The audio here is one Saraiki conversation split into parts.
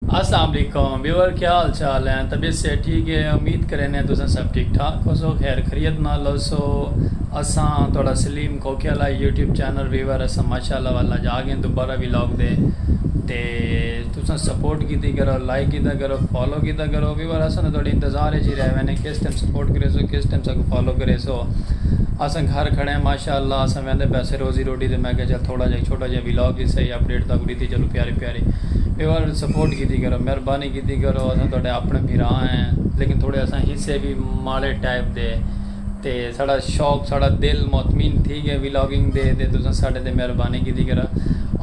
السلام علیکم ویور کیا حال چال ہیں طبیعت صحت ٹھیک ہے امید کرینے تساں سب ٹھیک ٹھاک ہوسو خیر خریت نال ہوسو اساں تہاڈا سلیم کھوکھے آلا یوٹیوب چینل ویور اساں ماشاءاللہ ول اج آگئے دوبارہ ولاگ دے تے تساں سپورٹ کیتی کرو لائک کیتا کرو فالو کیتا کرو ویور اساں تاں تہاڈے انتظار اچ ہی رہ وینے کس ٹائم سپورٹ کریسو کس ٹائم ساکوں فالو کریسو اساں گھر کھڑے ہیں ماشاءاللہ اساں ویندے پیسے روزی روٹی تے میں کہا چل تھوڑا جہا چھوٹا جہا ولاگ ہی سہی اپڈیٹ تاکوں ڈیتی چلو پیارے پیارے ایوال سپورٹ کیتی کرو مہربانی کیتی کرو اساں تہاڈے اپنے بھرا ہیں لیکن تھوڑے اساں حصے بھی ماڑے ٹائپ دے تے ساڑا شوق ساڑا دل مطمئن تھی گئے ویلاگنگ دے تے تساں ساڑے تے مہربانی کیتی کرو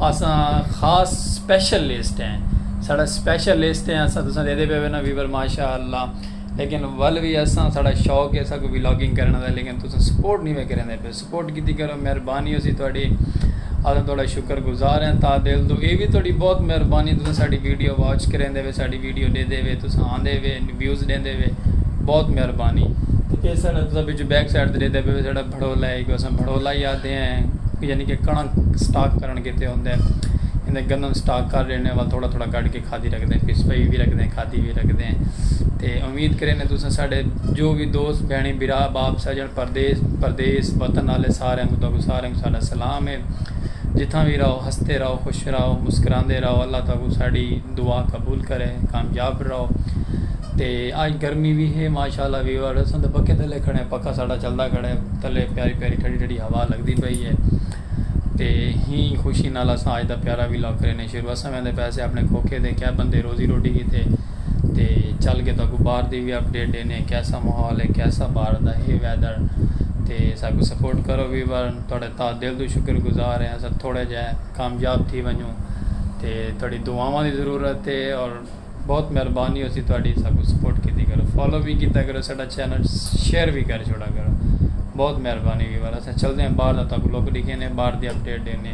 اساں خاص سپیشل لسٹ ہیں ساڑا سپیشل لسٹ ہیں اساں تساں دے دے پے نا ویور ماشاءاللہ لیکن ول بھی اساں ساڑا شوق ہے ساکو ویلاگنگ کرنا دا لیکن تساں سپورٹ نہیں میں کریں دے پے سپورٹ کیتی کرو مہربانی ہوسی تہاڈی اساں تہاڈا شکر گزار ہیں تا دل تو اے وی تہاڈی بہت مہربانی تساں ساڈی ویڈیو واچ کریندے وے ساڈی ویڈیو ڈیدے وے تساں آندے وے ویوز ڈیندے وے بہت مہربانی اے ساڈا تساں وچ بیک سائیڈ تے ڈیدے پے ساڈا بھڑولا ہے کو اساں بھڑولا ہی آدھے ہیں یعنی کہ کڑنک سٹاک کرن کیتے ہوندے ہیں تے گندم سٹاک کر رہنے ول تھوڑا تھوڑا کڈ کے کھادی رکھدے ہیں پس پئی بھی رکھدے ہیں کھادی بھی رکھدے ہیں تے امید کریندے تساں ساڈے جو بھی دوست بہنی بھرا باپ سجن پردیس پردیس وطن آلے ساریاں کوں تہاکوں ساریاں کوں ساڈا سلام ہے جتھاں وی رہو ہستے رہو خوش رہو مسکراندے رہو اللہ تہاکوں ساڈی دعا قبول کرے کامیاب رہو تے آج گرمی وی ہے ماشاءاللہ ویور اساں تے پکے تھلے کھڑے ہیں پکا ساڈا چلدا کھڑے تھلے پیاری پیاری ٹھڑی ٹھڑی ہوا لگدی پئی ہے تے ہی خوشی نال اساں آج دا پیارا وی لاکرے نے شروع اساں ویندے پیسے اپنے کھوکھے دے کیا بندے روزی روٹی کیتے تے چل کے تاکو باہر دی وی اپ ڈیٹ دینے کیسا محول ہے کیسا باہر دا ہے ویدر تے ساکو سپورٹ کرو وی بار تھوڑے تا دل تو شکر گزار ہیں سب تھوڑے جے کامیاب تھی ونجوں تے تھوڑی دعاواں دی ضرورت ہے اور بہت مہربانی ہوسی تھوڑی ساکو سپورٹ کیتی کرو فالو بھی کیتا کرو ساڈا چینل شیئر بھی کر چھوڑا کرو بہت مہربانی وی بار اسا چلدے ہیں باہر دا تاکو لوگ ڈیکھیں نے باہر دی اپ ڈیٹ دینے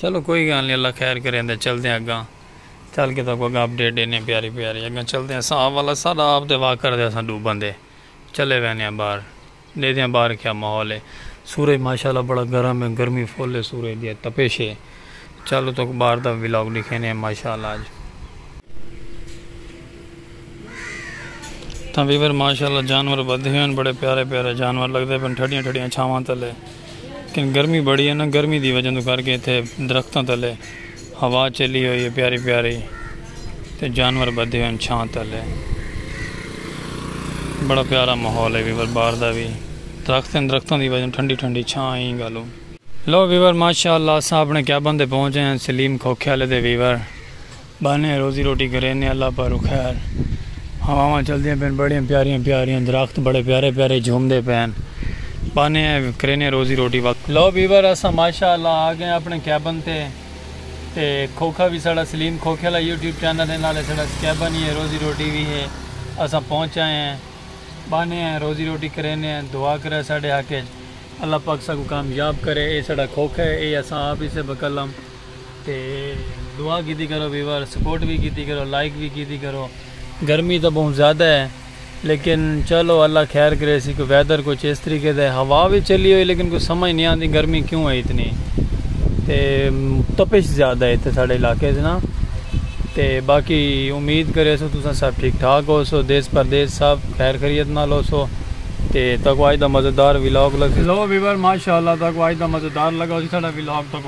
چلو کوئی گالھ نی اللہ خیر کرے اندے چلدے ہیں اگاں چل کے تاکو اگاں اپڈیٹ دینے ہیں پیاری پیاری اگاں چلدے ہیں ساں والا ساڈا آپ دے واک کر دے اساں ڈو بندے چلے وینے ہیں باہر دے دیاں باہر کیا ماحول ہے سورج ماشاءاللہ بڑا گرم ہے گرمی فل ہے سورج دی تپش ہے چلو تو باہر دا ولاگ دکھینے ہیں ماشاءاللہ اج تاں ویور ماشاءاللہ جانور بدھے ہیں بڑے پیارے پیارے جانور لگ دے پن ٹھڑیاں ٹھڑیاں چھاواں تلے کن گرمی بڑی ہے نا گرمی دی وجہ تو کر کے اتھے درختاں تلے ہوا چلی ہوئی ہے پیاری پیاری تے جانور بدھے ہوئے ہیں چھاں تلے بڑا پیارا ماحول ہے ویور باہر دا بھی درخت ہیں درختاں دی وجہ ٹھنڈی ٹھنڈی چھاں ہیں گالو لو ویور ماشاءاللہ ساپنے کیابن دے پہنچے ہیں سلیم کھوکھے والے دے ویور بانھیں روزی روٹی گھرینے اللہ پا رکھیا ہن ہواواں چلدیاں پین بڑیاں پیاریاں پیاریاں درخت بڑے پیارے پیارے جھومدے پین بانھیں کرینے روزی روٹی وقت لو بیور اساں ماشاء اللہ آ گئے اپنے کیبن تے تے کھوکھا وی ساڑا سلیم کھوکھے آلا یوٹیوب چینل ہے نالے ساڑا کیبن ہی ہے روزی روٹی وی ہے اساں پہنچ آئے ہیں بانھیں روزی روٹی کرینے دعا کرے ساڑے حق اچ اللہ پاک ساکوں کامیاب کرے اے ساڑا کھوکھا ہے اے اساں آپ ہی سے بکلم تے دعا کیتی کرو ویور سپورٹ وی کیتی کرو لائک وی کیتی کرو گرمی تاں بہوں زیادہ ہے لیکن چلو اللہ خیر کریسی کوئی ویدر کچھ اس طریقے دا ہے ہوا وی چلی ہوئی لیکن کوئی سمجھ نہیں آندی گرمی کیوں ہے اتنی تے تپش زیادہ ہے تے ساڑے علاقے سے نا تے باقی امید کرے سو تساں سب ٹھیک ٹھاک ہو سو دیس پردیس سب خیر خریت نہ لو سو تے تاکو آج دا مزدار ویلاگ لگ سو ویور ماشاءاللہ تاکو آج دا مزدار لگا ہو سی ساڑا ویلاگ تاکو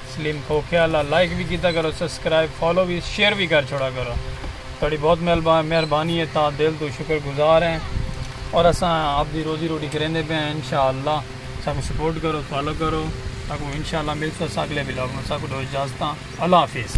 سلیم کھوکھیا اللہ لائک وی کیتا کرو سبسکرائب فالو وی شیئر وی کر چھوڑا کرو تہاڈی بہت مہربانی ہے تاں دل توں شکر گزار ہیں اور اساں آپ دی روزی روٹی کریندے پے ہیں انشاءاللہ ساکوں سپورٹ کرو فالو کرو ساکوں انشاءاللہ ملسوں اساں اگلے ولاگ میں ساکوں ڈو اجازتاں اللہ حافظ.